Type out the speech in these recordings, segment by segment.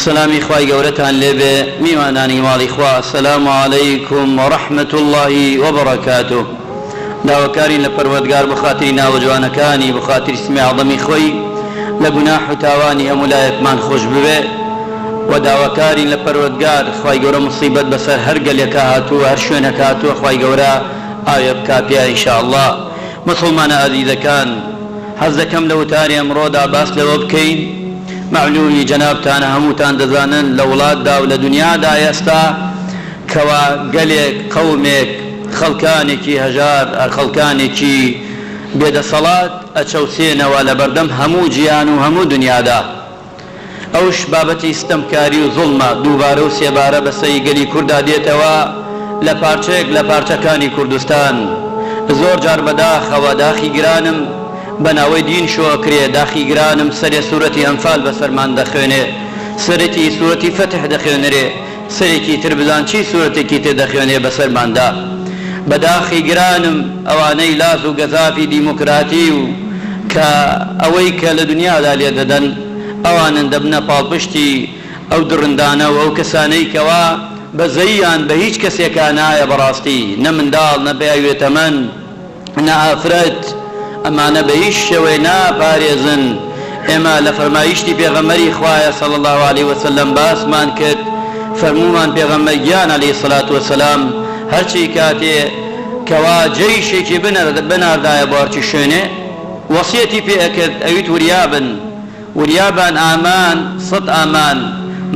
سەلامی خوای گەورەتان لێ بێ میوانانی ماڵی خوا سلام علیکم و رحمت اللە و برکاته داواکارین لە پەروەردگار بۆ خاتری ناوە جوانەکانی بۆ خاتری سمی اعظمی خۆی لە گوناح و تاوانی هەموو لایەکمان خوش ببێ و داواکارین لە پەروەردگار خوای گەورە موسیبەت بەسەر هەر گەلێکا هاتووە هەر شوێنەک هاتووە خوای گەورە ئاوێ بکا پیا ان شاء اللە موسڵمانە ئازیزەکان حەز دەکەم لە وتاری ئەمڕۆدا باس لەوە بکەین، مەعلوومی جەنابتانە هەمووتان دەزانن لە وڵاتدا و لە دنیادا ئێستا کەوا گەلێک، قەومێک، خەڵکانێکی هەژار، خەڵکانێکی بێدەسەڵات ئەچەوسێنەوە لە بەردەم هەموو جیهان و هەموو دنیادا. ئەوش بابەتی ستەمکاری و زوڵمە دووبارە و سێبارە بەسەی گەلی کوردا دێتەوە لە پارچەیەک لە پارچەکانی کوردستان زۆر جار بەداخەوە داخی گرانم بە ناوەی دین شۆکرێ داخی گرانم سەرێ سورەتی ئەنفال بەسەرمان دەخوێنێ سەرتی سورەتی فەتح دەخوێنرێ سەرێکی تر بزان چی سورەتێکی تر دەخوێنێ بەسەرماندا بەداخی گرانم ئەوانەی لاس و گەزافی دیموکراتی و کە ئەوەی کە لە دنیادا لێ دەدەن ئەوانن دەبنە پاڵپشتی ئەو دڕندانە و ئەو کەسانەی کەوا بەزەییان بە هیچ کەسێکا نایە بەڕاستی نە منداڵ نە پیاوی بێتەمەن نە ئافرەت ئەمانە بە هیچ شێوەیە ناپارێزن، ئێمە لە فەرمایشتی پێغەمبەری خوایە صلی اللە علیە وسلم باسمان کرد فەرموومان پێغەمبەر گیان علیە الصلوة والسلام هەرچی کاتێ کەوا جەیشێکی بناردایە بۆ هەرچی شوێنێ وەسیەتی پێ ئەکرد ئەویت وریابن وریا بن ئامان سەد ئامان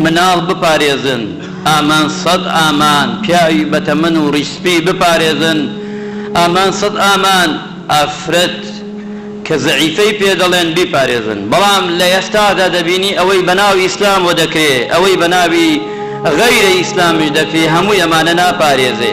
مناڵ بپارێزن، ئامان سەد ئامان پیاوی بەتەمەن و ڕیش سپی بپارێزن، ئامان سەد ئامان ئافرەت کە زەعیفەی پێ دەڵێن بیپارێزن، بەڵام لە ئێستادا دەبینی ئەوەی بەناوی ئیسلام وە دەکرێ ئەوەی بەناوی غەیرە ئیسلامیش دەکرێ هەمووی ئەمانە ناپارێزێ